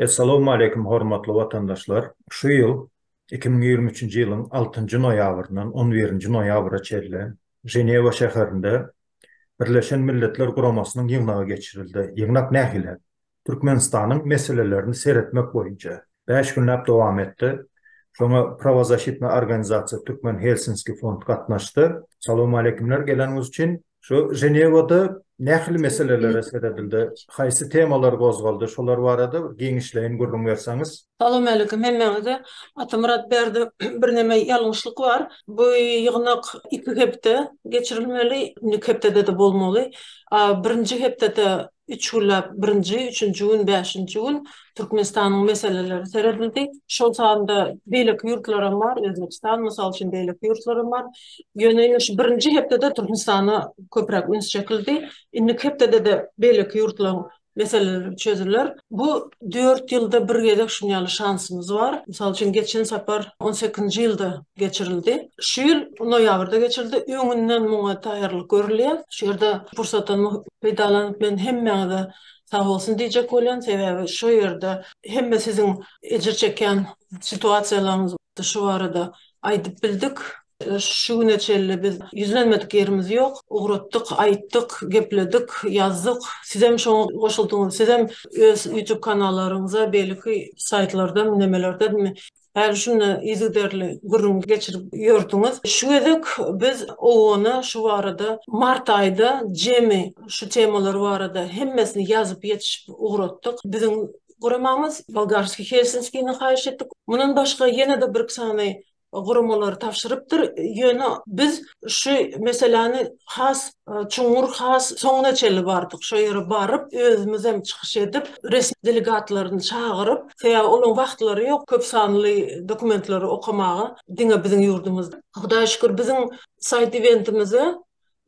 Essalowmaleýkim hormatly watandaşlar! Şu ýyl iki müň ýigrimi üçünji ýylyň altynjy noýabryndan on birinji noýabra çenli Ženewa şäherinde Birleşen Milletler Guramasynyň ýygnagy geçirildi. Ýygnak nähili? Türkmenistanyň meselelerini seretmek boýunça bäş günläp dowam etdi. Şoňa Prawozasitna organizasiýa Türkmen Helsinski fond gatnaşdy. Salowmaleýkimler geleniňiz üçin. Şu Ženewada nähili meselelere seredildi? Haýsy temalar gozgaldy? Şolar barada giňişleýin gürrüň berseňiz. Salowmalikim hemmäňize. Atamyrat bärde birneme ýalňyşlyk bar. Bu ýygnak iki hepde geçirilmeli, indiki hepdede-de bolmaly. A birinji hepdede üç günläp birinji, üçünji gün, bäşinji gün Türkmenistanyň meseleleri seredildi. Şol sanda beýleki ýurtlaram bar, Özbegistan, mysal üçin, beýleki ýurtlaram bar. Ýöne indi şu birinji hepdede Türkmenistana köpräk üns çekildi. Indiki hepdede-de beýleki ýurtlaryň meseleler çözüler. Bu dört ýylda bir gezek şuny ýaly şansymyz bar. Mysal üçin, geçen sapar on sekizinji ýylda geçirildi. Şu ýyl noýabrda geçirildi. Öňünden muňa taýýarlyk görülýär. Şu ýerde pursatdan peýdalanyp men hemmäňize sag bolsun diýjek bolýan. Sebäbi şu ýerde hemme siziň ejir çekýän situasiýalaryňyz şu barada aýdyp bildik. Şu güne çenli biz ýüzlenmedik ýerimiz ýok. Ugratdyk, aýtdyk, gepledik, ýazdyk. Sizem şoňa goşuldyňyz. Sizem öz YouTube kanallaryňyza, beýleki saýtlarda, nemelerdenmi, häli-şunda yzygiderli gürrüň geçirip ýördiňiz. Şu gezek biz owgana şu barada mart aýda jemi şu temalar barada hemmesini ýazyp ýetişip ugratdyk. Biziň Guramamyz Bolgarskiý Helsinskini haýyş etdik. Mundan başga ýene-de birki sany guramalary tabşyrypdyr. Ýöne biz şu meseläni has çuňňur, has soňuna çenli bardyk. Şo ýere baryp, özümizem çykyş edip, resmi delegatlaryny çagyryp, sebäbi olaryň wagtlary ýok köp sanly dokumentlary okamaga, diňe biziň ýurdumyzda. Hudaýa şükür, biziň saýt-eventimize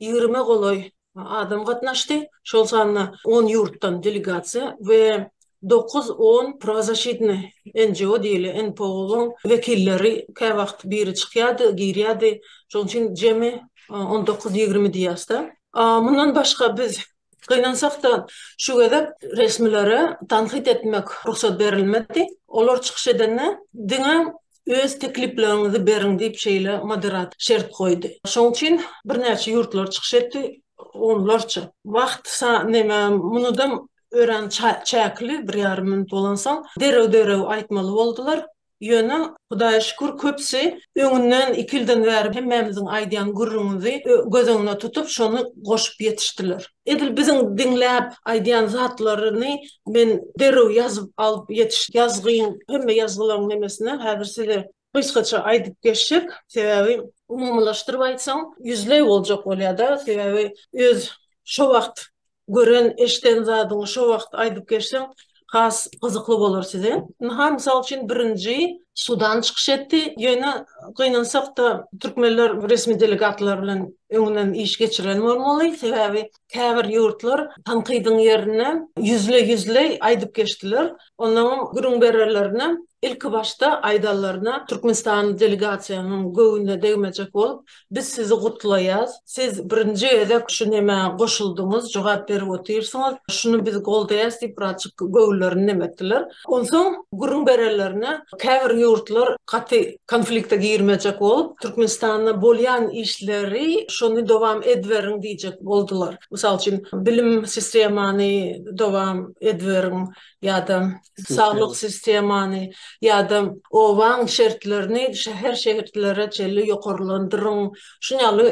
ýigrime golaý adam gatnaşdy, şol sanda on ýurtdan delegasiýa we dokuz on Pravozashitnaya NGO diýilýän NPO-nyň wekilleri käwagt biri çykýardy, girýärdi, şonuň üçin jemi on dokuz ýigrimi diýýäs-de. Mundan başga biz gynansak-da şu gezek resmilere tankyt etmek rugsat berilmedi. Olar çykyş edende diňe Öz teklipleriňizi beriň diýip şeýle moderator şert goýdy. Şoň üçin birnäçe ýurtlar çykyş etdi, onlarça. Wagt neme munudam örän çäkli, bir ýarym minut bolansoň derrew derrew aýtmaly boldular. Ýöne Hudaýa şükür köpsi öňünden iki ýyldan bäri hemmämiziň aýdýan gürrüňizi göz öňüne tutup şony goşup ýetişdiler. Edil biziň diňläp aýdýan zatlaryny men derrew ýazyp alyp ýetiş ýazgyň hemme ýazgylaryň nemesine häzir size gysgaça aýdyp geçjek. Sebäbi umumylaşdyryp aýtsaň ýüzleý boljak bolýada. Sebäbi öz şo wagt gören eşden zadyňy şo wagt aýdyp geçseň has gyzykly bolar size. Ynha, mysal üçin, birinji Sudan çykyş etdi, ýöne gynansak-da, türkmenler resmi delegatlar bilen öňünden iş geçiren bolmaly, sebäbi käbir ýurtlar tankydyň ýerine ýüzle-ýüzle aýdyp geçdiler. Onuňam gürrüň bererlerine, ilkibaşda aýdanlaryna Türkmenistanyň delegasiýanyň göwnüne degmejek bolup, Biz sizi gutlaýas. Siz birinji gezek şu nemä goşuldyňyz, jogap berip otyrsyňyz. Şuny biz goldaýas diýip birazjyk göwünlerini nem etdiler. Onsoň gürrüň berenlerine käbir ýurtlar gaty konflikte girmejek bolup, Türkmenistanda bolýan işleri şony dowam ediberiň diýjek boldular. Mysal üçin, bilim sistemany dowam ediberiň, ýa-da saglyk sistemany, ýa-da obaň şertlerini şäher şehitlere çenli ýokarlandyryň, şuny ýaly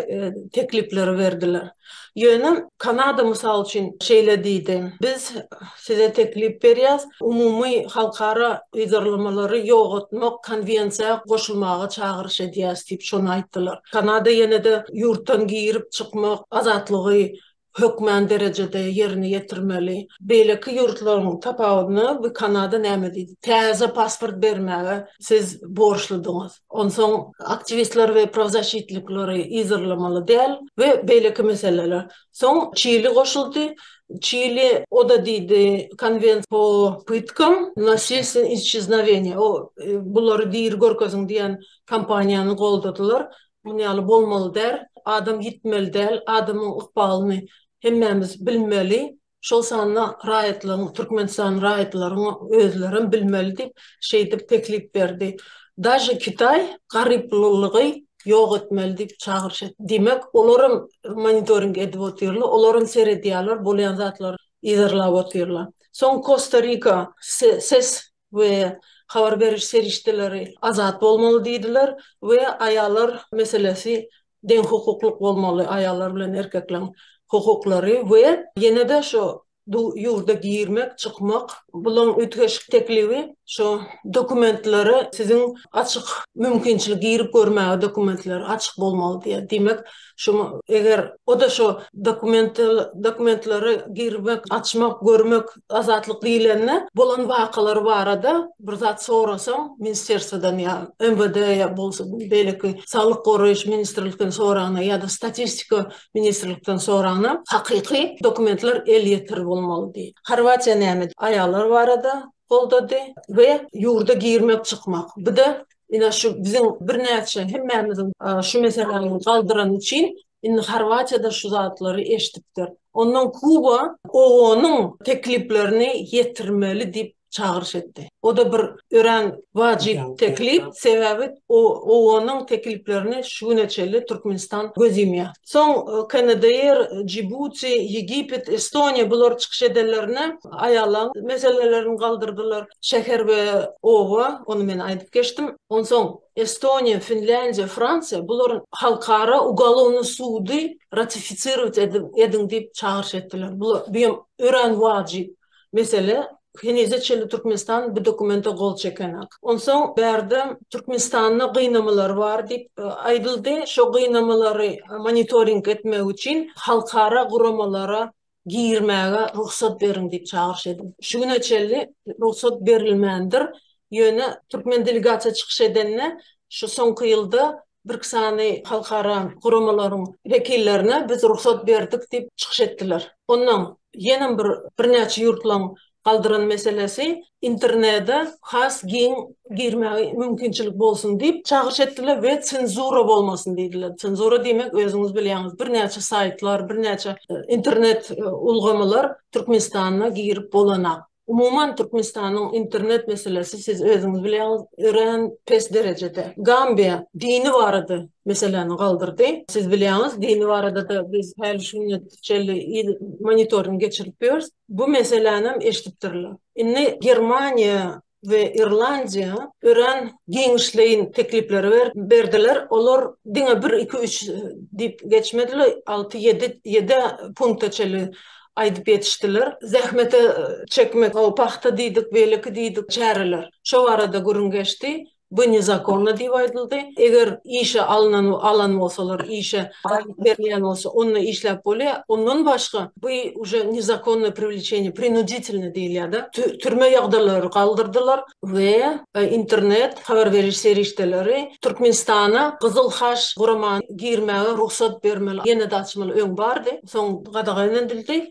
teklipleri berdiler. Ýöne Kanada mysal üçin şeýle diýdi, Biz size teklip berýäs, umumy halkara yzarlamalary ýogatmak konwensiýa goşulmaga çagyryş edýäs diýip şony aýtdylar. Kanada ýene-de ýurtdan girip çykmak azatlygy hökmän derejede ýerine ýetirmeli. Beýleki ýurtlaryň tapawudyna bu Kanada näme diýdi? Täze pasport bermäge siz borçludyňyz. Onsoň aktiwistler we prawzaşitlikleri yzarlamaly däl we beýleki meseleler. Soň Çili goşuldy. Çili o-da diýdi, Konwent po pytkam nasilstven isçiznaweniýa, o bulary diri görkeziň diýen kampaniýany goldadylar. Muny ýaly bolmaly däl, adam ýitmeli däl, adamyň ykbalyny hemmämiz bilmeli, şol sanda raýatlaryň, Türkmenistan raýatlaryň özlerem bilmeli diýip, şeýdip teklip berdi. Daže Kitaý garyplylygy ýok etmeli diýip çagyryş etdi. Diýmek, olaram monitoring edip otyrlar, olaram seredýärler, bolýan zatlary yzarlap otyrlar. Soň Kosta-Rika ses we habar beriş serişdeleri azat bolmaly diýdiler we aýallar meselesi deňhukuklyk bolmaly, aýallar bilen erkekleň hukuklary we ýene-de şu ýurda girmek, çykmak, bulaň üýtgeşik teklibi şu dokumentlere siziň açyk mümkinçilik girip görmäge dokumentler açyk bolmaly diýýär. Diýmek, Şoňa eger o-da şo dokumental dokumentlary girmek, açmak, görmek azatlyk diýlende bolan wakalar barada bir zat sorasaň ministrerstwadan ýa MWD ýa bolsa beýleki saglyk goraýyş ministrlikden soranyna ýa-da statistika ministrlikden soranyna hakyky dokumentler elýeter bolmaly diý. Horwatiýa näme? Aýallar barada goldady we ýurda girmek, çykmak. Bu-da Ine şu biziň birnäçe hemmämiziň şu meseläni galdyrany üçin indi Horwatiýada şu zatlary eşdipdir. Ondan Kuba OON-yň tekliplerini ýetirmeli diýip çagyryş etdi. O-da bir örän wajyp teklip, sebäbi OON-yň tekliplerini şu güne çenli Türkmenistan göz ýumýar. Soň KNDR, Jibuti, Ýegipet, Estoniýa bular çykyş edenlerine aýallaryň meselelerini galdyrdylar. şäher we oba, ony men aýdyp geçdim. Onsoň Estoniýa, Finlýandiýa, Fransiýa bularyň halkara ugolovny sudy ratifisirowat ediň diýip çagyryş etdiler. Bu hem örän wajyp mesele. Henize çenli Türkmenistan bu dokumente gol çekenak. Onsoň bärde Türkmenistanda gynamalar bar diýip aýdyldy. Şo gynamalary monitoring etmek üçin halkara guramalara girmäge rugsat beriň diýip çagyryş edip, şu güne çenli rugsat berilmändir. Ýöne türkmen delegasiýa çykyş edende, şu soňky ýylda birki sany halkara guramalaryň wekillerine biz rugsat berdik diýip çykyş etdiler. Onnoň ýenem bir birnäçe ýurtlaryň galdyran meselesi internede has giň girmäge mümkinçilik bolsun diýip çagyryş etdiler we senzura bolmasyn diýdiler. Senzura diýmek özüňiz bilýäňiz birnäçe saýtlar, birnäçe internet ulgamylar Türkmenistanda girip bolanak. Umuman Türkmenistanyň internet meselesi siz özüňiz bilýäňiz örän pes derejede. Gambiýa dini barada meseläni galdyrdy. Siz bilýäňiz dini barada-da biz häli şu gününe çenli monitoring geçirip ýörüs. bu meselänem eşidipdirler. Indi Germaniýa we Irlandiýa örän giňişleýin teklipleri berdiler, olar diňe bir, iki, üç diýip geçmediler, alty, ýedi, ýedi-ä punkta çenli aýdyp ýetişdiler. Zähmete çekmek, o pagta diýdik, beýleki diýdik çäreler, şo barada gürrüň geçdi. Bu nezakonno diýip aýdyldy. Eger işe alynan alan bolsalar, işe aýlyk berilýän bolsa, onda işläp bolýa. Ondan başga, bu uje nezakonno privlečeniýe, prinuditelno diýilýä-de. Türme ýagdalary galdyrdylar we internet habar beriş serişdeleri Türkmenistana Gyzyl Haç gurama girmäge rugsat bermeli, ýene-de açmaly, öň bardy, soň gadagan edildi.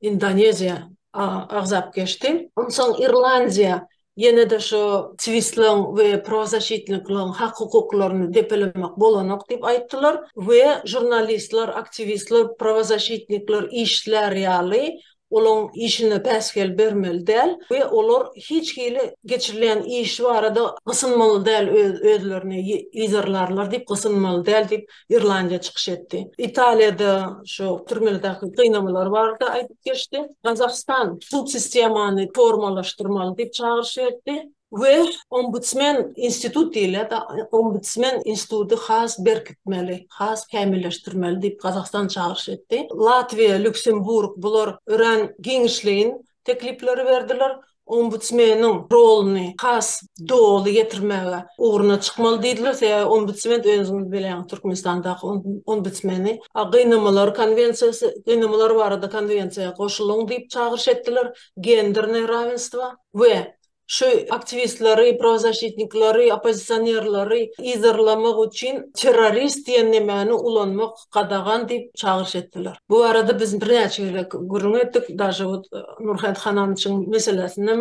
Indoneziýa agzap geçdi. Onsoň Irlandiýa ýene-de şu Twistleň we prozaşitnikleň hak-hukuklaryny depelemek bolanok diýip aýtdylar we žurnalistler, aktiwistler, prowazaşitnikler işlär ýaly olaň işine päsgel bermeli däl we olar hiç hili geçirilýän iş barada gysynmaly däl özlerini yzarlarlar diýip gysynmaly däl diýip Irlandiýa çykyş etdi. Italiýada şu türmelerdäki gynamalar barada aýdyp geçdi. Gazagystan sud sistemany formalaşdyrmaly diýip çagyryş etdi we ombudsmen institut diýilýär-de, ombudsmen instituty has berkitmeli, has kämilleşdirmeli diýip Gazagystan çagyryş etdi. Latwiýa, Lýuksemburg bular örän giňişleýin teklipleri berdiler. Ombudsmeniň roluny has doly ýetirmäge ugruna çykmaly diýdiler, sebäbi ombudsment özüňiz bilýäňiz, Türkmenistandaky ombudsmeni Gynamalar konwensiýasy, gynamalar barada konwensiýa goşulyň diýip çagyryş etdiler, gender nerawensitwa we Şu aktiwistleri, prawzaşitnikleri, oppozisionerleri yzarlamak üçin terrorist diýen nemäni ulanmak gadagan diýip çagyryş etdiler. Bu barada biz birnäçe gezek gürrüň etdik, daže ot Nurhayt Hananyçyň meselesindem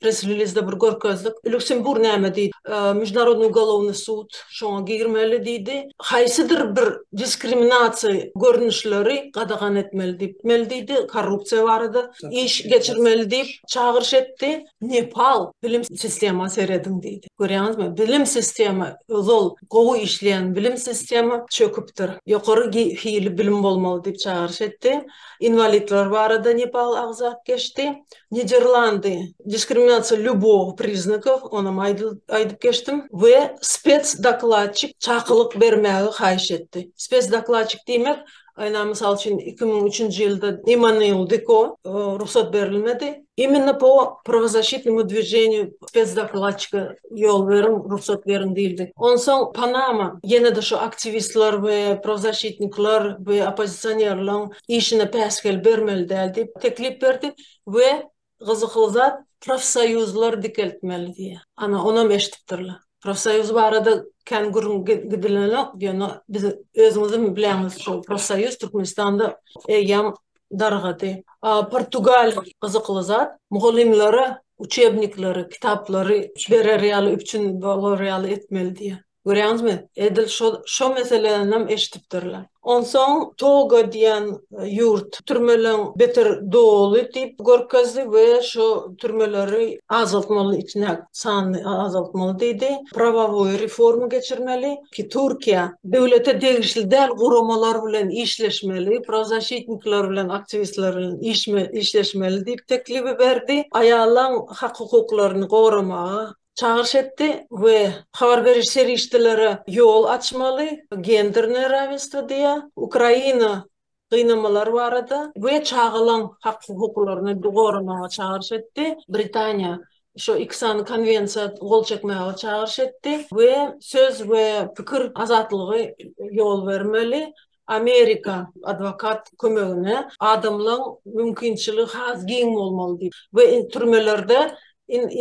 press-relizde bir görkezdik. Luksemburg näme diýdi? Mežunarodnyý ugolovnyý sud şoňa girmeli diýdi. haýsydyr bir diskriminasiýa görnüşleri gadagan etmeli diýmeli diýdi, korrupsiýa barada iş geçirmeli diýip çagyryş etdi. Nepal bilim sistema serediň diýdi. Görýäňizmi, bilim sistema ozal gowy işleýän bilim sistema çöküpdir. Ýokary hili bilim bolmaly diýip çagyryş etdi. Inwalidler barada Nepal agzap geçdi. Niderlandy, Diskriminasiýa lýubow priznakow, onam aýdyp geçdim we spesdokladçik çakylyk bermäge haýyş etdi. Spesdokladçik diýmek, aýna mysal üçin, iki müň üçünji ýylda Immanuil Diko rugsat berilmedi. Imенно po prawozasşitnemu dwiženýu spesdokladçika ýol beriň, rugsat beriň diýildi. Onsoň Panama ýene-de şu aktiwistler we prawozasşitnikler we oppozisionerleriň işine päsgel bermeli däl diýip teklip berdi we gyzykly zat profsoýuzlar dikeltmeli diýýär. Ana, onam eşidipdirler. Profsoýuz barada kän gürrüň gidilenok, ýöne biz özüňizem bilýäňiz, şol profsoýuz Türkmenistanda eýýäm dargady. A Portugaliýa gyzykly zat, mugallymlara uçebnikleri, kitaplary berer ýaly, üpjün bolar ýaly etmeli diýýär. Görýäňizmi, edil şol, şo meseleninem eşidipdirler. Onsoň Toga diýen ýurt türmeleň beter doly diýip görkezdi we şo türmeleri azaltmaly, içine sanyny azaltmaly diýdi. Prawawoý reforma geçirmeli ki, Türkiýe döwlete degişli däl guramalar bilen işleşmeli, prawzaşitnikler bilen, aktiwistler bilen işme, işleşmeli diýip teklibi berdi. Aýalaň hak-hukuklaryny goramaga çagyryş etdi we habar beriş serişdeleri ýol açmaly, gendernoe rawensdwo diýýär, Ukraina gynamalar barada we çagalaň hak-hukuklaryny goramaga çagyryş etdi, Britaniýa şu iki sany konwensiýa gol çekmäge çagyryş etdi we söz we pikir azatlygy ýol bermeli, Amerika adwokat kömegine adamlaň mümkinçiligi has giň bolmaly diýip we türmelerde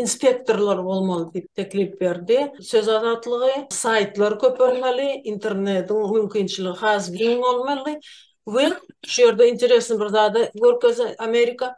inspektorlar bolmaly diýip teklip berdi. Söz azatlygy, saýtlar köpelmeli, internetiň mümkinçiligi has giň bolmaly we şu ýerde interesni bir zady görkezdi Amerika,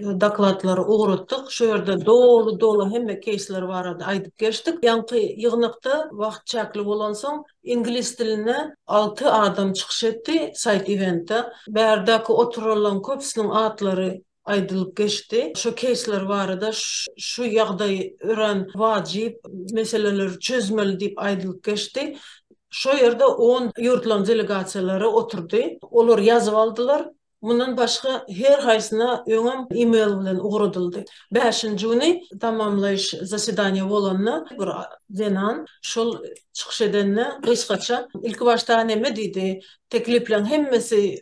Dokladlary ugratdyk. Şu ýerde doly-doly hemme keýsler barada aýdyp geçdik. Ýaňky ýygnakda wagt çäkli bolansoň, iňlis dilinde alty adam çykyş etdi saýt-iventde. Bärdäki oturanlaryň köpüsiniň atlary aýdylyp geçdi. Şu keýsler barada, şu ýagdaý örän wajyp, meseleleri çözmeli diýip aýdylyp geçdi. Şo ýerde on ýurtlaryň delegasiýalary oturdy. Olar ýazyp aldylar. Mundan başga, her haýsyna öňem e-mail bilen ugradyldy. Bäşinji güni tamamlaýyş zasedaniýa bolanda, bir zenan şol çykyş edende gysgaça, Ilkibaşda neme diýdi, Teklipleriň hemmesi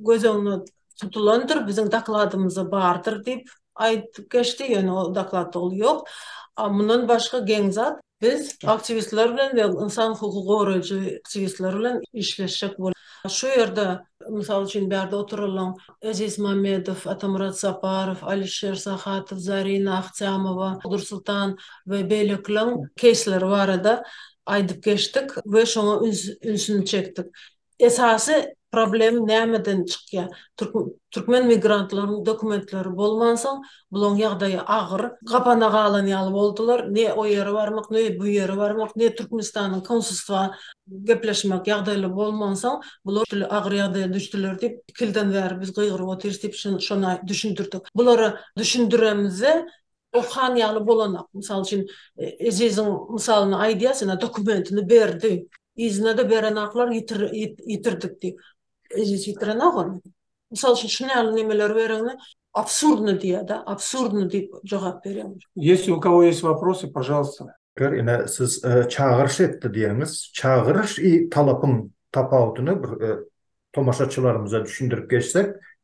göz öňünde tutulandyr, biziň dokladymyzda bardyr diýip aýdyp geçdi, ýöne o dokladda ol ýok. A mundan başga geň zat. Biz aktiwistler bilen we ynsan hukugy goraýjy aktiwistler bilen işleşjek bolup, şu ýerde, mysal üçin, bärde oturylan Eziz Mamedow, Atamyrat Saparow, Alişer Sahatow, Zarina Ahtyýamowa, Dursultan we beýlekileriň keýsleri barada aýdyp geçdik we şoňa ünsüni çekdik. Esasy problem nämeden çykýar? Türkmen migrantlaryň dokumentleri bolmansoň, bulaň ýagdaýy agyr. Gapana galan ýaly boldular. Ne o ýere barmak, ne bu ýere barmak, ne Türkmenistanyň konsulstwa gepleşmek ýagdaýly bolmansoň, bular şeýle agyr ýagdaýa düşdüler diýip, iki ýyldan bäri biz gygyryp otyrys diýip, şony düşündirdik. Bulara düşündiremizde, Okan ýaly bolanak. Mysal üçin, Eziziň mysalyny aýdýas, ine, dokumentini berdi. Yzyna-da berenaklar ýitirdik diýip. Eziz ýitirenok ony. Mysal üçin, şuny ýaly nemeleri bereňde, absurdny diýýär-de, absurdny diýip jogap berýär. Ýesi u kogo ýesi waprosy, pažalsta? Ger, ine, siz çagyryş etdi diýeniňiz. Çagyryş i talapyň tapawutyny bir tomaşaçylarymyza düşündirip geçsek,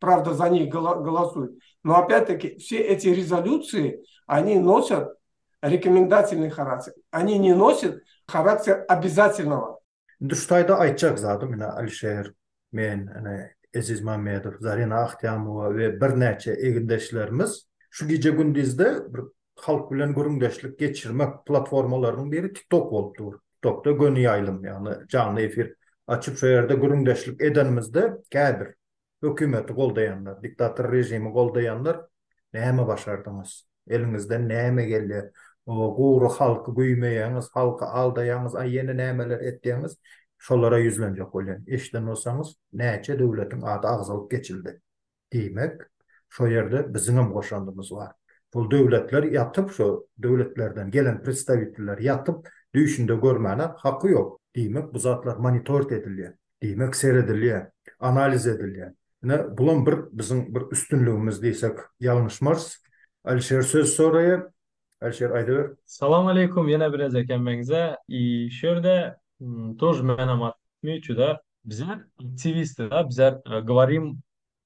Prawda za njih golosuyt. No opýat-taki, vse eti rezolýutsiýi, oni nosat rekomendatsiýnıý harakter. Oni ne nosat harakter obezatelnowa. Indi şu taýda aýtjak zadym, ine, Alişer, men, ine, Eziz Mämmedow, Zarina Ahtyýamowa we birnäçe egindeşlerimiz şu gije-gündizde bir halk bilen gürrüňdeşlik geçirmek platformalarynyň biri TikTok bolup dur. TikTokda göni ýaýlym, ýagny janly efir açyp, şo ýerde gürrüňdeşlik edenimizde käbir hökümeti goldaýanlar, diktator režimi goldaýanlar näme başardyňyz? Eliňizden näme gelýär? O gury halky güýmeýäňiz, halky aldaýaňyz, a ýene nämeler etýäňiz? Şolara ýüzlenjek bolýan. Eşiden bolsaňyz, näçe döwletiň ady agzalyp geçildi. Diýmek, şo ýerde biziňem goşandymyz bar. Şol döwletler ýatyp, şo döwletlerden gelen predstawitiller ýatyp, düýşünde görmäne haky ýok. Diýmek, bu zatlar monitorit edilýär. Diýmek, seredilýär, analiz edilýär. Ine, bulam bir biziň bir üstünligimiz diýsek ýalňyşmarys. Alişer söz soraýar. Alişer, aýdyber. Salam aleýkum ýene birez ekenmeňize i şu ýerde tuž menem atmyçuda. Bizler aktiwistida bizler govorim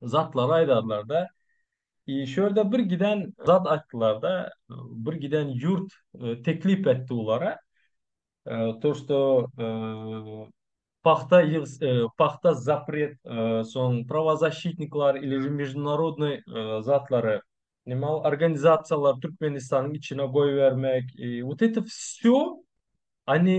zatlary aýdarlar-da, i, şu ýerde bir giden zat aýtdylar-da, bir giden ýurt teklip etdi bulara, to, što pahta ýyg, pahta zapret, soň prawozaşitniklar ili ži meždunarodnoý zatlary, nima ol organizasiýalary Türkmenistanyň içine goýbermek, i, wot eto vsýo oni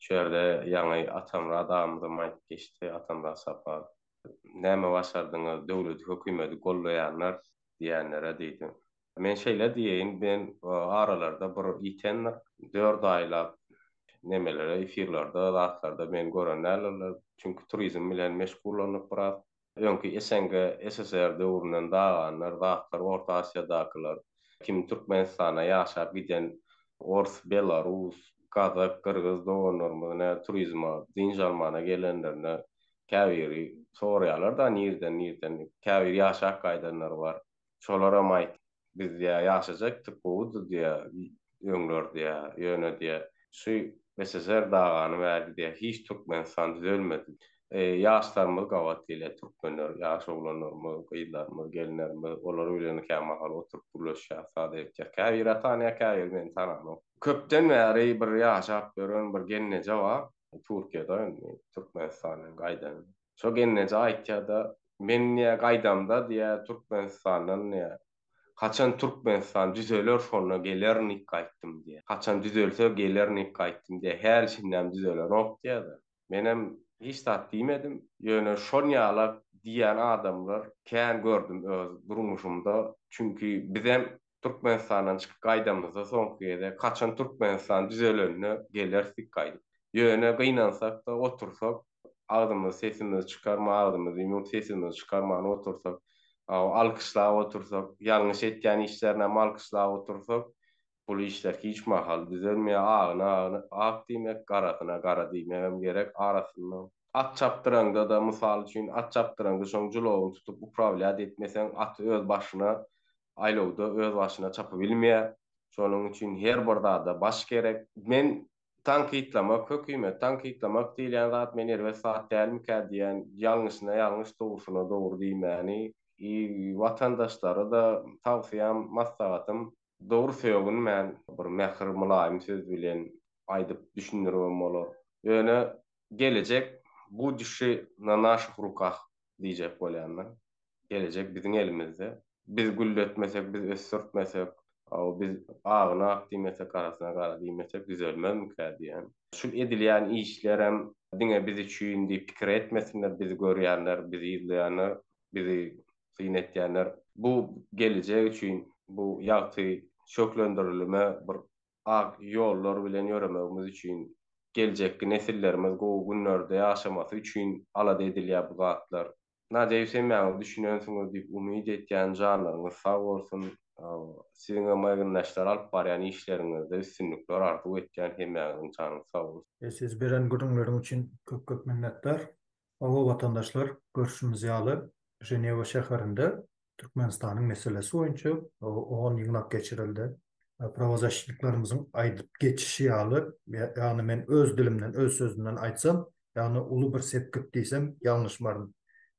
Şu ýerde ýaňy Atamyrat agymyzam aýdyp geçdi, Atamyrat Saparow. Näme başardyňyz, döwleti, hökümeti gollaýanlar diýenlere diýdi. Men şeýle diýeýin, men aralarda bir ýitendir, dört aýlap nemelere, efirlerde, zatlarda meni gören däldirler. Çünki turizm bilen meşgullanyp biraz. Öňki SNG, SSR döwründen daganlar, zatlar Orta Asiýadakylar kimin Türkmenistana ýaşap giden ors, belarus, gazak, gyrgyz doganlarymyz nä turizma, dynç almana gelenlerinde käbiri soraýarlar-da nirden, nirden, käbiri ýaşap gaýdanlar bar. şolaram aýt, biz diýýär, ýaşajakdyk, gowudyr diýýär, öňler diýýär, ýöne diýýär, şu SSR dagany bäri diýýär, hiç Türkmenistan düzelmedi. Ýaşlarymyz gabat gelýär, türkmenler, ýaş oglanlarymyz, gyzlarymyz, gelinlerimiz, olar bilen kämahal oturyp gürleşýär, sada etýär. Käbiri tanýar, käbiri meni tananok. Köpden bäri bir ýaşap ýören bir gelneje bar, Türkiýede indi, Türkmenistana gaýdan. Şo gelneje aýtýa-da, Men diýýär, gaýdamda diýýär, Türkmenistandan diýýär, haçan Türkmenistan düzeler şonda gelerin diýip gaýtdym diýýär. Haçan düzelse gelerin diýip gaýtdym diýýär. Häli şindem düzelenok diýýär-de. Menem hiç zat diýmedim. Ýöne şol ýalak diýýän adamlar kän gördüm öz durmuşymda. Çünki bizem Türkmenistandan çykyp gaýdamyzda soňky gezek, haçan Türkmenistan düzelende gelerdik gaýdyp. Ýöne gynansak-da otursak, agzymyzy sesimizi çykarman, agzymyzy ýumup sesimizi çykarman otursak, alkyşlap otursak, ýalňyş etýän işlerine hem alkyşlap otursak, bul işler hiç mahal düzelmeýär. Agyna ak diýmek, garasyna gara diýmegem gerek arasynda. At çapdyraňda-da, mysal üçin, at çapdyraňda şoň julawyny tutup uprawlýat etmeseň, aty öz başyna aýlawda özbaşyna çapybilmeýär. Şonuň üçin her bir zada baş gerek. Men tankytlamak, hökümeti tankytlamak diýilýän zat men erbet zat dälmikä diýýän, ýalňyşyna ýalňyş, dogrusyna dogry diýmäni, i watandaşlara-da tawsyýam, maslahatym, dogry sögünmän, bir mähir, mylaýym söz bilen aýdyp düşündirmem bolar. Ýöne Gelejek budushi na naših rukah diýjek bolýan men. Gelejek biziň elimizde. Biz gülletmesek, biz ösdürtmesek, aw biz agyna ak diýmesek, garasyna gara diýmesek düzelmezmikä diýýän. Şu edilýän işlerem diňe biz üçin diýip pikir etmesinler bizi görýänler, bizi yzlaýanlar, bizi syn etýänler. Bu gelejek üçin, bu ýagty şöhlendirilime bir ak ýollar bilen ýöremegimiz üçin, geljekki nesillerimiz gowy günlerde ýaşamasy üçin alada edilýär bu zatlar. Nadýa Ýüsemýanowa düşünensiňiz diýip umyt etýän janlaryňyz sag bolsun siziňem ýygyndaşlar alyp barýan işleriňizde üstünlikler arzuw etýän hemmäňiziň janyňyz sag bolsun. Siz beren gürrüňleriň üçin köp köp minnetdar. Hawa, watandaşlar, görşümiz ýaly, Ženewa şäherinde Türkmenistanyň meselesi boýunça on ýygnak geçirildi. Prawozaşitniklerimiziň aýdyp geçişi ýaly, ýagny men öz dilimden, öz sözümden aýtsam, ýagny uly bir sepgit diýsem ýalňyşmaryn.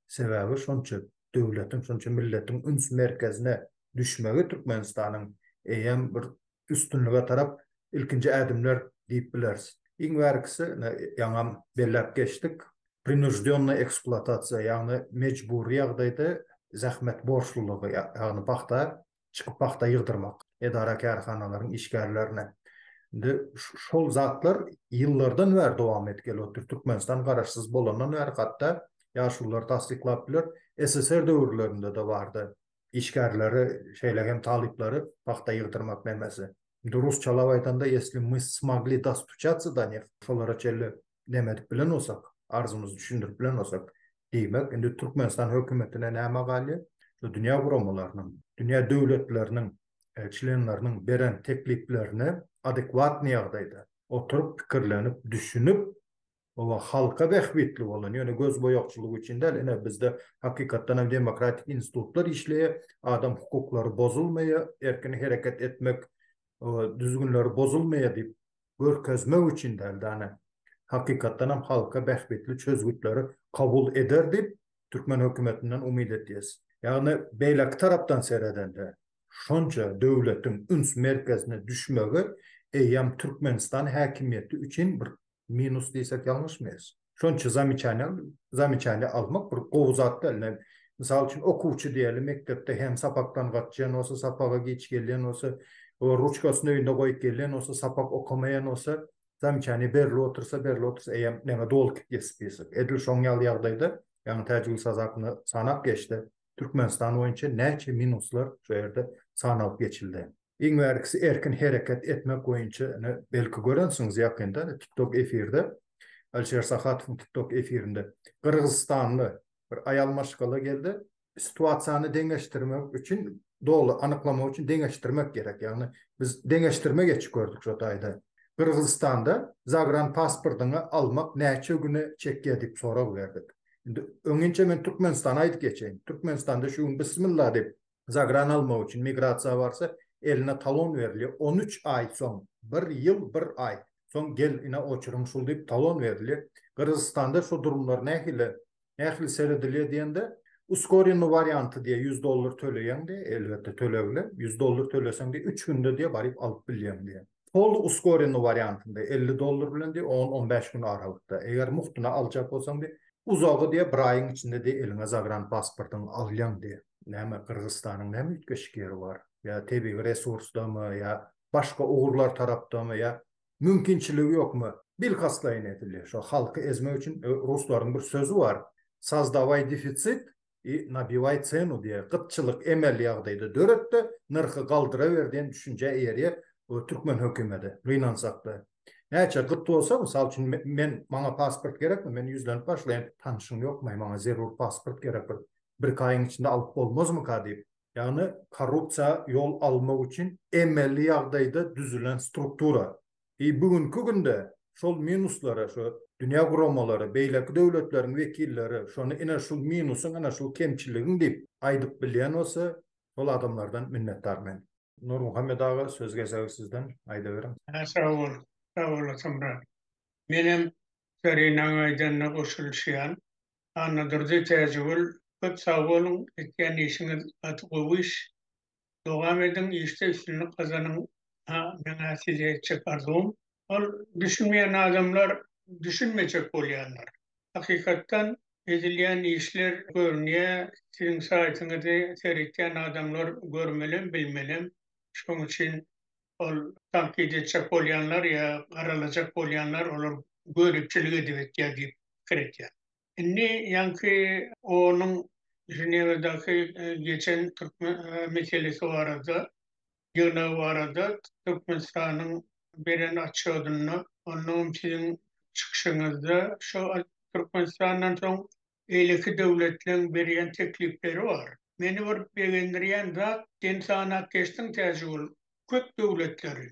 Sebäbi şonça döwletiň, şonça milletiň üns merkezine düşmegi Türkmenistanyň eýýäm bir üstünlige tarap ilkinji ädimler diýip bileris. Iň bärkisi, ine, ýaňam belläp geçdik, prinuždýonnaý ekspluatasiýa, ýagny mejbury ýagdaýda zähmet borçlulygy, ýagny pagta çykyp pagta ýygdyrmak edara-kärhanalaryň işgärlerine. Indi şol zatlar ýyllardan bäri dowam edip gelip otyr. Türkmenistan garaşsyz bolandan bäri hatda ýaşulular tassyklap biler, SSR döwürlerinde-de bardy. işgärleri, şeýle hem talyplary pagta ýygdyrmak nemesi. Indi rusçalap aýdanda, ýesli my smogli dostuçatsa do neh, şolara çenli neme edip bilen bolsak, arzymyzy düşündirip bilen bolsak, diýmek, indi Türkmenistan hökümetine näme galýar? Şu dünýä guramalarynyň, dünýä döwletleriniň çlenleriniň beren tekliplerine adekwatnyý ýagdaýda oturyp, pikirlenip, düşünip, Oba halka bähbitli bolan, ýöne gözboýagçylyk üçin däl, ine bizde hakykatdan hem demokratik institutlar işleýär, adam hukuklary bozulmaýar, erkin hereket etmek düzgünleri bozulmaýar diýip görkezmek üçin däl-de ane, hakykatdan hem halka bähbitli çözgütleri kabul eder diýip türkmen hökümetinden umyt edýäs. Ýagny beýleki tarapdan seredende şonça döwletiň üns merkezine düşmegi eýýäm Türkmenistan häkimiýeti üçin bir minus diýsek ýalňyşmaýarys. Şonuň üçin zamecaniýa, zamecaniýa almak bir gowy zat däl. Ine, mysal üçin, okuwçy diýeli, mekdepde hem sapakdan gaçýan bolsa, sapaga giç gelýän bolsa, o ruçkasyny öýünde goýup gelýän bolsa, sapak okamaýan bolsa, zamecaniýa berilip otursa, berilip otursa, eýýäm näme, dolkyp ýesip ýesek. Edil şoň ýaly ýagdaýda, ýaňy Täjigül Sazakny sanap geçdi. Türkmenistan boýunça näçe minuslar şu ýerde sanalyp geçildi. Iň bärkisi erkin hereket etmek boýunça belki görensiňiz ýakynda tiktok efirde Alişer Sahatowyň tiktok efirinde gyrgyzystanly bir aýal maşgala geldi. Situasiýany deňeşdirmek üçin doly anyklamak üçin deňeşdirmek gerek ýagny biz deňeşdirme geçip gördük şo taýda. Gyrgyzystanda zagran pasportyňy almak näçe güne çekýär diýip sorag berdik. Indi öňinçe men Türkmenistana aýdyp geçeýin. Türkmenistanda şu gün bismillah diýip zagran almak üçin migrasiýa barsa, eline talon berilýär. 13 aý soň, bir ýyl, bir aý soň gel ine oçuryň şul diýip talon berilýär. Gyrgyzystanda şu durumlar nähili, nähili seredilýär diýende, uskorennoý warianty diýýär, ýüz dollar töleýäň diýýär, elbetde tölegli, ýüz dollar töleseň diýýär, üç günde diýýär baryp alyp bilýäň diýýär. Tolly uskorenny wariantynda elli dollar bilen diýip on on bäş gün aralykda eger muhtyna aljak bolsaň diýip uzagy diýip bir aýyň içinde diýip eliňe zagran pasportyň alýaň diýip näme gyrgyzystanyň näme üýtgeşik ýeri bar ýa tebigy resursdamy ýa başga ugurlar tarapdamy ýa mümkinçiligi ýokmy bilkastlaýyn edilýär şo halky ezmek üçin ruslaryň bir sözi bar sazdaway defitsit i nabiwaý cenu diýýär. Gytçylyk emeli ýagdaýda döret-de, nyrhy galdyraber diýen düşünjä eýerýär bu türkmen hökümeti. Gynansak-da. Näçe gyt bolsa, mysal üçin, men, maňa pasport gerekmi? Men ýüzlenip başlaýyn, Tanyşyň ýokmy? Maňa zerur pasport gerek bir. Birki aýyň içinde alyp bolmazmyka diýip. Ýagny korrupsiýa ýol almak üçin emeli ýagdaýda düzülen struktura. I bu günki günde şol minuslara şu dünýä guramalary, beýleki döwletleriň wekilleri şony ine şul minusyň, ine şul kemçiligiň diýip aýdyp bilýän bolsa, şol adamlardan minnetdar men. Nurmuhammet aga söz gezegi sizden, aýdaweriň. Sag bol, sag olasyn brat. Menem Zarinaň aýdanyna goşulyşýan. Annadurdy Täjigül köp sag boluň, etýän işiňiz gaty gowy iş. Dowam ediň işde üstünlik gazanyň ha meňä size etjek arzuwym ol düşünmeýän adamlar düşünmejek bolýarlar hakykatdan edilýän işler görünýä siziň saýtyňyzy seretýän adamlar görmelem bilmelem şoň üçin ol tankyt etjek bolýanlar ýa garalajak bolýanlar olar göripçilik edip etýär diýip pikir etýän. Indi ýaňky onuň Ženewadaky geçen türkmen meselesi barada, ýygnagy barada Türkmenistanyň beren otçodynda, onnoňam siziň çykyşyňyzda şo Türkmenistandan soň beýleki döwletleriň berýän teklipleri bar. Meni bir begendirýän zat, sen sanap geçdiň Täjigul köp döwletleri.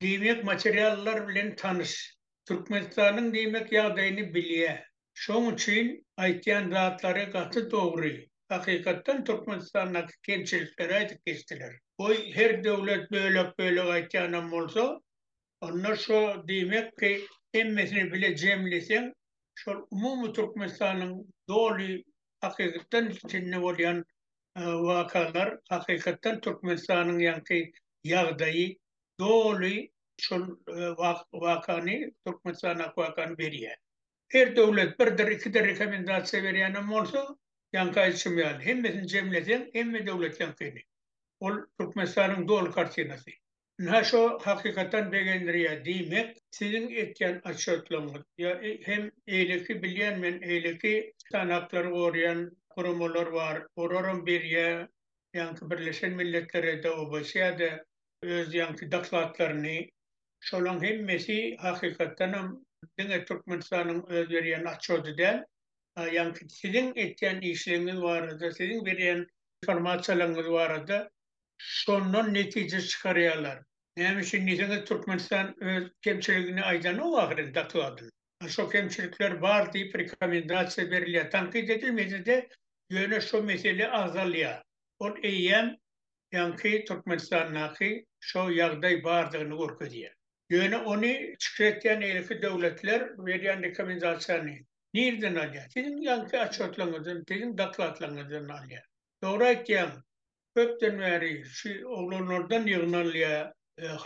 Diýmek materiallar bilen tanyş. Türkmenistanyň diýmek ýagdaýyny bilýä. Şoň üçin aýtýan zatlary gaty dogry. Hakykatdan Türkmenistandaky kemçilikleri aýdyp geçdiler. Goý her döwlet bölek bölek aýtýanam bolsa onda şo diýmek ki hemmesini bile jemleseň şol umumy Türkmenistanyň doly hakykatdan içinde bolýan wakalar hakykatdan Türkmenistanyň ýaňky ýagdaýy doly şol wakany, Türkmenistan akwakany berýär. Her döwlet birdir, ikidir rekomendasiýa berýänem bolsa, ýaňky aýdyşym ýaly, hemmesini jemleseň, hemme döwlet ýaňkyny. Ol Türkmenistanyň doly kartinasy. Ynha şo hakykatdan begendirýär, diýmek, siziň etýän otçetligiňiz ýa hem beýleki bilýän men, beýleki insan haklary goraýan guramalar bar, olaram berýär, ýaňky Birleşen Milletlere-de, OBSE-de, öz ýaňky dokladlaryny, şolaň hemmesi hakykatdanam diňe Türkmenistanyň öz berýän atçoty däl, a ýaňky siziň etýän işleňňiz barada, siziň berýän informasiýalaňňyz barada şondan netije çykarýarlar. Näme üçin diýseňiz, Türkmenistan öz kemçiligini aýdanok ahyryn dokladynda. A şo kemçilikler bar diýip rekomendasiýa berilýär. Tankyt edilmese-de, ýöne şo mesele agzalýar. Ol eýýäm ýaňky Türkmenistandaky şo ýagdaý bardygyny görkezýär. Ýöne ony çykr etýän eýleki döwletler berýän rekomendasiýany nirden alýar? Siziň ýaňky otçýotlaryňyzdan, siziň dokladlaryňyzdan alýar. Dogry aýtýaň, köpden bäri şu oglanlardan ýygnalýar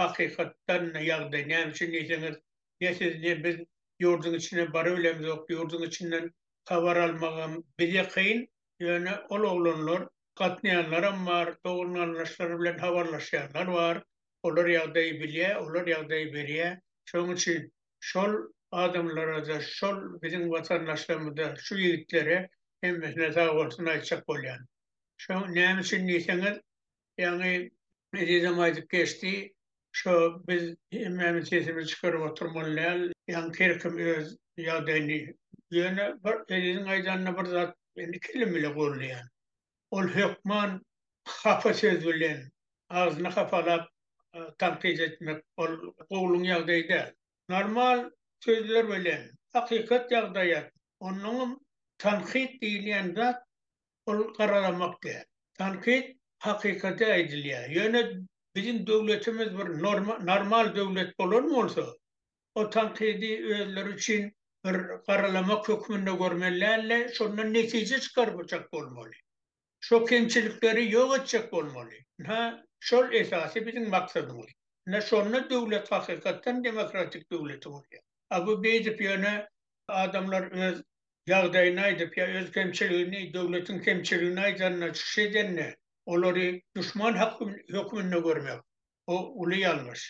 hakykatdan ýagdaý. Näme üçin diýseňiz, ne siz, ne biz ýurduň içine barybilemzok, ýurduň içinden habar almagam bize kyn, Ýöne ol oglanlar gatnaýanlaram bar, dogan-garyndaşlary bilen habarlaşýanlar bar. Olar ýagdaýy bilýär, olar ýagdaýy berýär. Şonuň üçin şol adamlara-da, şol biziň watandaşlarymyza, şu ýigitlere hemmesine sagbolsun aýtjak bolýan. Şoň näme üçin diýseňiz, Ýaňy Ezizem aýdyp geçdi, şo biz hemmämiz sesimizi çykaryp oturmaly däl, ýaňy her kim öz ýagdaýyny Ýöne bir Eziziň aýdanyna bir zat men iki elim bile goldaýan. Ol hökman hapa söz bilen, agzyny hapalap tankyt etmek ol gowulygyň ýagdaýy däl. Normal sözler bilen, hakykat ýagdaýat, onnoňam tankyt diýilýän zat ol garalamak däl. Tankyt hakykaty aýdylýar. Ýöne biziň döwletimiz bir normal döwlet bolan bolsa, o tankydy özleri üçin bir garalamak hökmünde görmeli dälde, şondan netije çykarmajak bolmaly. Şo kemçilikleri ýok etjek bolmaly. Ynha, şol esasy biziň maksadymyz. Ynha, şonda döwlet hakykatdan demokratik döwleti bolýar. A bu beýdip ýöne adamlar öz ýagdaýyny aýdyp ýa öz kemçiligini, döwletiň kemçiligini aýdanda, çykyş edende, olary duşman hökmünde görmek, bu uly ýalňyş.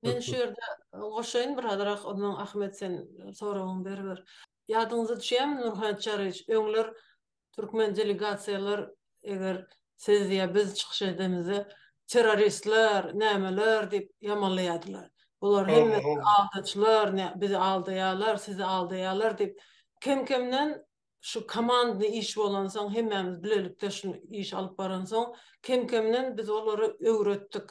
Men şu ýerde goşaýyn bir azyrak, ondan Ahmet sen soragyňy beriber. Ýadyňyza düşýärmi Nurhat Çaryýewiç, öňler türkmen delegasiýalar eger siz ýa biz çykyş edemizde terroristler, nämeler diýip ýamanlaýardylar. Bular hemmesi aldaçylar, bizi aldaýarlar, sizi aldaýarlar diýip, kem-kemden şu komandny iş bolansoň, hemmämiz bilelikde şu işi alyp baransoň, kem-kemden biz olary öwretdik.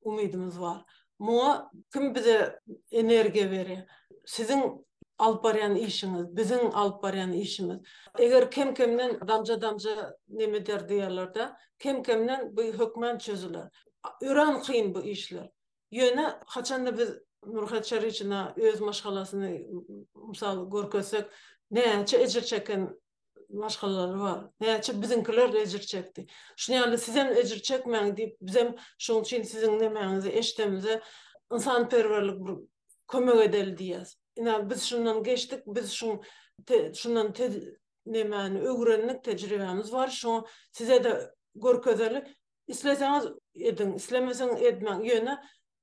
umydymyz bar. Muňa kim bize energiýa berýär? Siziň alyp barýan işiňiz, biziň alyp barýan işimiz. Eger kem-kemden damja-damja neme eder diýerler-de, kem-kemden bu hökman çözüler. Örän kyn bu işler. Ýöne haçanda biz Nurhat Çaryçyna öz maşgalasyny mysal görkezsek, näçe ejir çeken maşgalalary bar. Näçe biziňkiler ejir çekdi. Şunuň ýaly sizem ejir çekmäň diýip, bizem şunuň üçin siziň nemäňizi eşdemizde ynsanperwerlik bir kömek edeli diýýäs. Ine, biz şundan geçdik, biz şu şundan nemäni öwrendik, tejribämiz bar, şoňa size-de görkezeli. Isleseňiz ediň, islemeseňiz edmäň, ýöne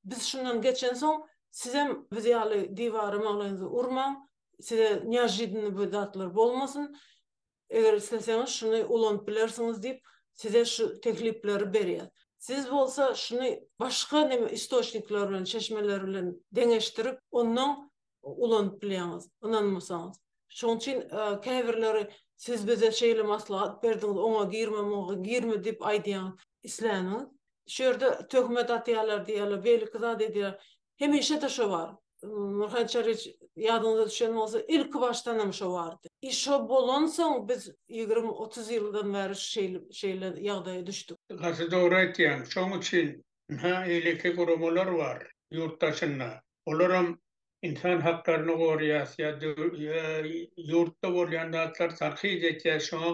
biz şundan geçensoň, sizem biz ýaly diwara maglaýyňyzy urmaň, size neožidannyý bir zatlar bolmasyn, eger isleseňiz şuny ulanyp bilersiňiz diýip, size şu teklipleri berýär. Siz bolsa şuny başga neme istoçnikler bilen, çeşmeler bilen deňeşdirip, ondan ulanyp bilýäňiz, ynanmasaňyz. Şonuň üçin käbirleri siz bize şeýle maslahat berdiňiz, oňa girme, muňa girme diýip aýdýaňyz. Isläniňiz. Şu ýerde töhmet atýarlar diýýärler, beýleki zat edýärler. Hemişe-de şo bar. Nurhan Çariç, ýadyňyza düşen bolsa, ilkibaşdan hem şo bardy. I şo bolansoň biz ýigrimi-otuz ýyldan bäri şeýle ýagdaýa düşdük. Gaty dogry aýtýaň. Şoň üçin Ynha, eýleki guramalar bar ýurt daşynda. Olaram ynsan haklaryny goraýas ýa ýurtda bolýan zatlar tankyt etýäs, şoňa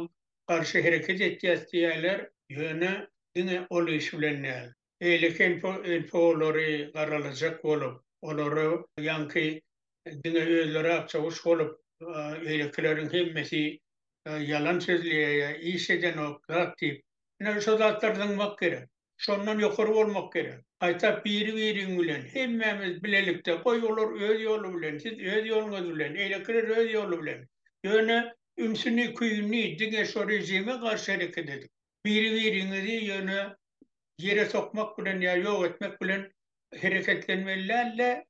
garşy hereket etýäs diýýärler, ýöne diňe ol iş bilen däl. Eýleki NPO-lary garalajak bolup, olara ýaňky diňe özleri akçaguş bolup, eýlekileriň hemmesi ýalan sözleýär ýa iş edenok zat diýip, ine, şo zatlar zyňmak gerek. şondan ýokary bolmak gerek. Gaýta biri-biriň bilen, hemmämiz bilelikde, goý olar öz ýoly bilen, siz öz ýoluňyz bilen, eýlekiler öz ýoly bilen, ýöne ünsüni, küýüni diňe şo režime garşy hereket edip, biri-biriňizi ýöne ýere sokmak bilen ýa ýok etmek bilen hereketlenmeli däl-de.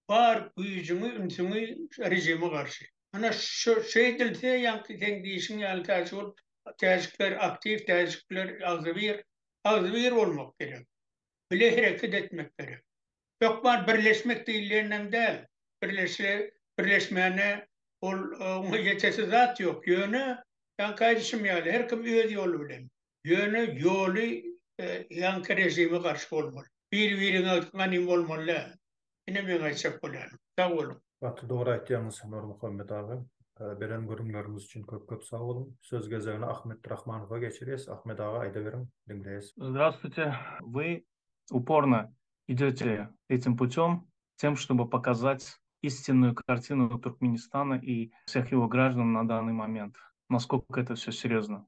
bar güýjüňi, ünsüňi režime garşy. Ana şu şeýdilse ýaňky seň diýişiň ýaly täjik ol täjikler aktiw täjikler agzybir agzybir bolmak gerek. Bile hereket etmek gerek. Hökman birleşmek diýilýänem däl. Birleşse birleşmäne ol oňa ýetesi zat ýok. Ýöne ýaňky aýdyşym ýaly her kim öz ýoly bilen. Ýöne ýoly ýaňky režime garşy bolmaly. Biri-biriňe ganym bolmaly däl. Ine meň aýtjak bolýanym. Sag boluň. Gaty dogry aýtýaňyz Nurmuhammet aga. Beren gürrüňleriňiz üçin köp köp sag boluň. Söz gezegini Ahmet Rahmanowa geçirýäs. Ahmet aga aýdaweriň, diňleýäs. Zdravstwuýte, Wy uporno idete etim putem, tem ştoby pokazat istinnuýu kartinu Türkmenistana i vseh ýego graždan na dannyý moment. Naskok eto vse serýozno.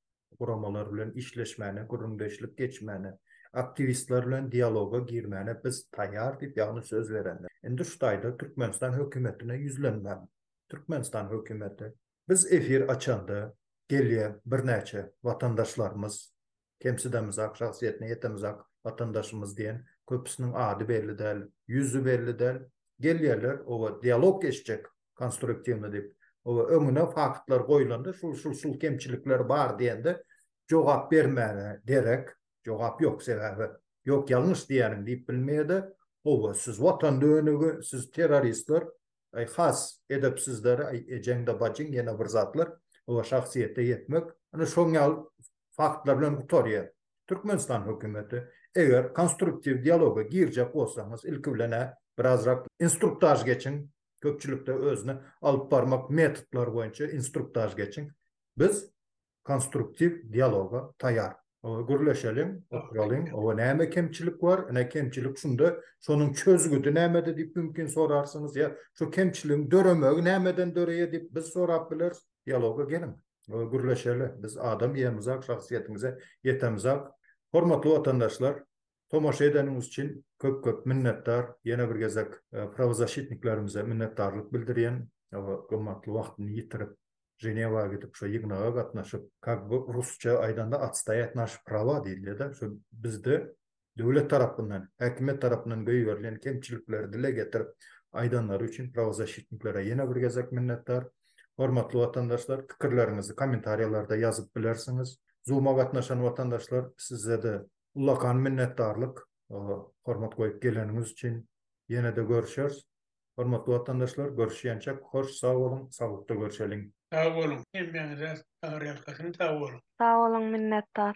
guramalar bilen işleşmäne, gürrüňdeşlik geçmäne, aktiwistler bilen dialoga girmäne biz taýýar diýip, ýagny söz berenler. Indi şu taýda Türkmenistan hökümetine ýüzlenmän, Türkmenistan hökümeti, biz efir açanda gelýän birnäçe watandaşlarymyz, kemsidemizak, şahsyýetine ýetemizak watandaşymyz diýen köpüsiniň ady belli däl, ýüzi belli däl, gelýärler, oba dialog geçjek, konstruktiwny diýip. Oba öňüne faktlar goýlanda şul şul şul kemçilikler bar diýende jogap bermäge derek jogap ýok sebäbi ýok ýalňyş diýýäniň diýip bilmeýede oba siz watan dönügi siz terroristler aý has edepsizler aý ejeňde bajyň ýene bir zatlar oba şahsyýete ýetmek ine şoň ýaly faktlar bilen gutarýar Türkmenistan hökümeti eger konstruktiw dialoga girjek bolsaňyz ilki bilen biraz rak instruktaž geçiň köpçülikde özüni alyp barmak metodlary boýunça instruktaž geçiň. Biz konstruktiw dialoga taýar. Gürleşeliň, oturalyň, oba näme kemçilik bar, ine kemçilik şunda, şonuň çözgüdi nämede diýip mümkin sorarsyňyz, ýa şu kemçiligiň döremegi nämeden döreýär diýip biz sorap bileris. Dialoga geliň, gürleşeli, biz adam ýerimizak, şahsyýetimize ýetemizak. Hormatly watandaşlar, Tomaşa edeniňiz üçin köp köp minnetdar. Ýene bir gezek prawozasitniklerimize minnetdarlyk bildirýän. Gymmatly wagtyny ýitirip Ženewa gidip şo ýygnaga gatnaşyp kak bu rusça aýdanda atstaýat naş prava diýilýäda şo bizde döwlet tarapyndan häkimiýet tarapyndan göýberilen kemçilikleri dile getirip aýdanlary üçin prawozasitniklere ýene bir gezek minnetdar. Hormatly watandaşlar pikirleriňizi kommentariýalarda ýazyp bilersiňiz. Zuma gatnaşan watandaşlar sizede Ullakan minnetdarlyk hormat goýup geleniňiz üçin. Ýene-de görüşeris. Hormatly watandaşlar, görüşýänçäk, hoş sag boluň, saglykda görüşeliň. Sag boluň, hemmäňize agyryýalkasyn sag boluň. Sag boluň, minnetdar.